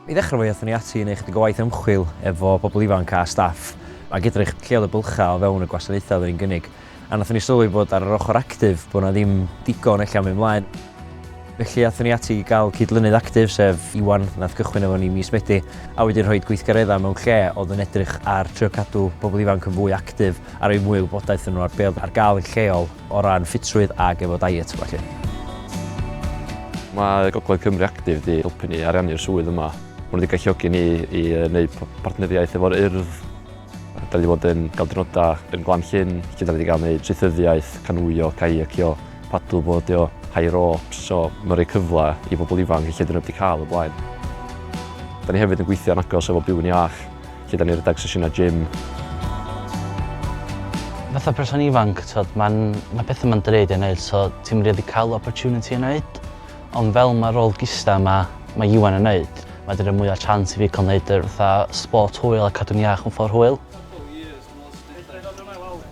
I ddechrau fe aethon ni ati i wneud chydig o waith ymchwil efo pobl ifanc a staff ac edrych lle oedd y bylchau o fewn y gwasanaethau oedden ni'n gynnig a wnaethon ni sylwi bod ar yr ochr actif bod 'na ddim digon ella am mynd mlaen felly aethon ni ati i gael cyd-lynydd actif sef Iwan wnaeth gychwyn efo ni mis Medi a wedyn rhoi gweithgareddau mewn lle oedd yn edrych ar trio cadw pobl ifanc yn fwy actif a rhoi mwy o wybodaeth iddyn nhw ar be oedd ar gael yn lleol. O ran ffitrwydd ac efo diet felly. Mae Gogledd Cymru Actif 'di helpu ni ariannu'r swydd yma. Mae nhw 'di galluogi ni i wneud partneriaeth efo'r Urdd. Dan ni 'di bod yn cael diwrnodau yn Glan Llyn lle dan ni 'di cael gwneud traethyddiaeth, canŵio, caiacio, paddle boardio, high ropes, so mae'n rhoi cyfle i bobl ifanc lle 'dyn nhw heb 'di cael o blaen. Dan ni hefyd yn gweithio'n agos efo Byw'n Iach. Lle dan ni'n rhedeg sesiynau gym. Fatha person ifanc t'od ma'n ma' petha ma'n dreud i neud so ti'm rili ca'l opportunity i neud ond fel ma' rôl gistha ma' ma' Iwan yn neud ma' 'di roi mwy o chance i fi ca'l neud yr fatha sport hwyl a cadw'n iach mewn ffor hwyl.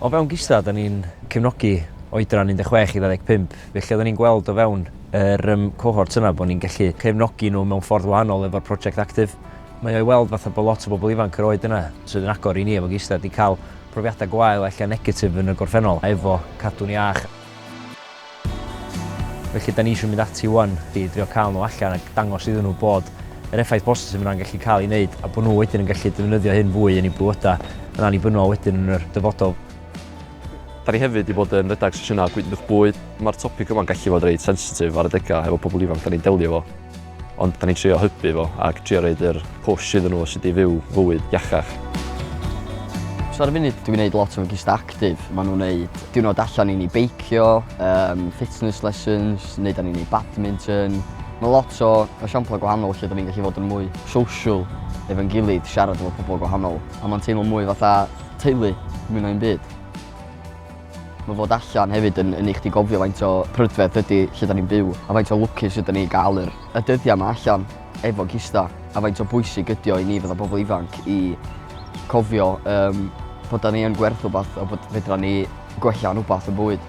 O fewn gistha 'dan ni'n cefnogi oedran 16 i 25 felly oddan ni'n gweld o fewn yr yym cohorts yna bo' ni'n gellu cefnogi n'w mewn ffordd wahanol efo'r project actif Mae o i weld fatha bod lot o bobl ifanc yr oed yna, sydd yn agor i ni efo gisdar, 'di cael profiadau gwael, ella negatif yn y gorffennol, efo cadw'n iach. Felly, 'da ni isio mynd ati 'wan i drio cael nhw allan a dangos iddyn nhw bod yr effaith bositif yna'n gallu cael ei wneud, a bod nhw wedyn yn gallu defnyddio hyn fwy yn eu bywydau yn annibynnol wedyn yn yr dyfodol. Da ni hefyd 'di bod yn rhedeg sesiynau gwydnwch bwyd. Mae'r topig yma'n gallu bod reit sensitif ar adegau efo pobl ifanc 'da ni'n delio efo. Ond da ni'n trio hybu fo ac trio roed yr push iddyn nhw o sut i fyw fywyd iachach. So ar y funud dwi'n gwneud lot o fy gista actif. Maen nhw'n gwneud diwrnod allan i ni beicio, um, fitness lessons, wneud â ni'n ei badminton. Mae lot o esiamplau gwahanol lle da ni'n gallu fod yn mwy social efo'n gilydd, siarad efo pobl gwahanol. A mae'n teimlo mwy fatha teulu mwy na un byd. Mae fod allan hefyd yn yn neu' chdi gofio faint o prydferth ydi lle 'dan ni'n byw a faint o lwcus ydan ni i ga'l yr y dyddia' 'ma allan efo gista a faint o bwysig ydi o i ni fatha pobol ifanc i cofio yym bod 'dan ni yn gwerth wbath a bod fedran ni gwella'n wbath yn bywyd.